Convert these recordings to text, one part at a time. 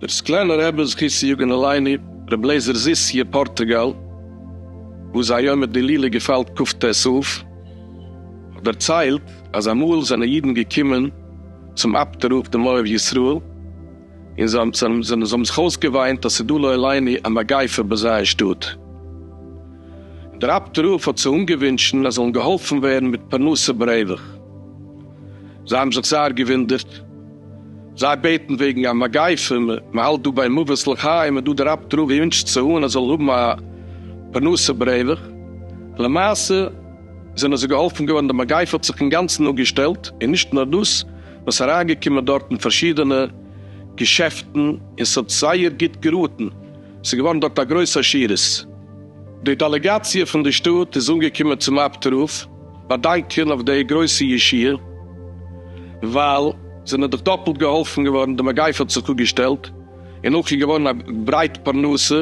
דער סקלענער רבי זכות צו יגון עלינו, רבי לעזער זיס י פארטוגאל, וואס זיין יום הילולא געפאלט כ ט אב, האט דערציילט אז אמאל זענען אידן געקומען צום אפטער רב דעם אוהב ישראל, און זיי האבן זיך אויסגעוויינט אז ס'איז דא לא עלינו א מגיפה ביי זיי אין שטאט. דער אבד ר האט זיי אנגעווינטשן אז זיי זאלן געהאלפן ווערן מיט פרנסה ברווח. זיי האבן זיך זייער געוואונדערט. זיי בעטן וועגן א מגיפה, מ'האלט דא ביי מוות לחיים, און דא דער אבד ר ווינטשט זיי אן אז זיי זאלן האבן א פרנסה ברווח. למעשה זענען זיי געהאלפן געווארן, די מגיפה האט זיך אינגאנצן אפגעשטעלט, און נישט נאר דאס, וואס אריינגעקומען דארט אין פארשידענע געשעפטן און ס'האט זייער גוט געראטן, ס'איז געווארן דארט א גרויס עשירות. די דעלעגאציע פון די שטאט איז אנגעקומען צום אב ת רב באדאנקען אויף די גרויסע ישועה, ווייל זענען דאך דאפלט געהאלפן געווארן, די מגיפה האט זיך אפגעשטעלט און אויך איז געווארן א ברייט פרנסה,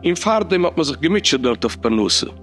און פארדעם האט מען זיך געמוטשעט דארט אויף פרנסה.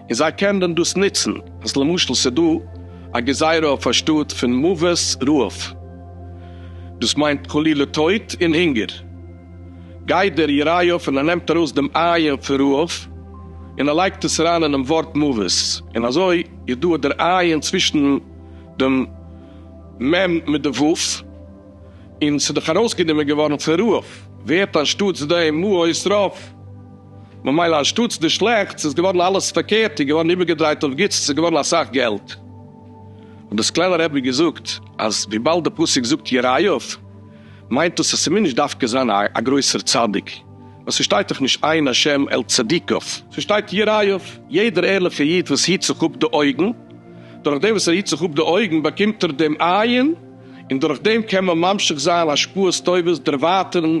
און זיי קענען דען דאס נוצן אז למשל ס'איז דא א גזירה אויף א שטאט פון מוות רעב, דאס מיינט חלילה טויט און הונגער, גייט דער יריות און ער נעמט ארויס דעם עיין פון רעב און ער לייגט עס אריין אינעם ווארט מוות, און אזוי איז דא דער עיין צווישן דעם מ' מיט די ו', און ס'איז דאך ארויסגענומען געווארן פון רעב, ווערט אנשטאטס דעם מוות רעב. ממילא אנשטאטס די שלעכטס איז געווארן אלעס פארקערט און געווארן איבערגעדרייט אויף גוטס, עס איז געווארן אסאך געלט. האט די סקלענער רבי געזאגט אז וויבאלד די פסוק זאגט יראיו מיינט דאס אז ס'מוז נישט דווקא זיין א א גרויסער צדיק, ווייל ס'שטייט דאך נישט עיין השם אל צדיקיו, ס'שטייט יראיו, יעדער ערליכע איד וואס היט זיך אפ די אויגן, דורך דעם וואס ער היט זיך אפ די אויגן באקומט ער דעם עיין, און דורך דעם קען מען ממשיך זיין השפעות טובות דערווייטערן,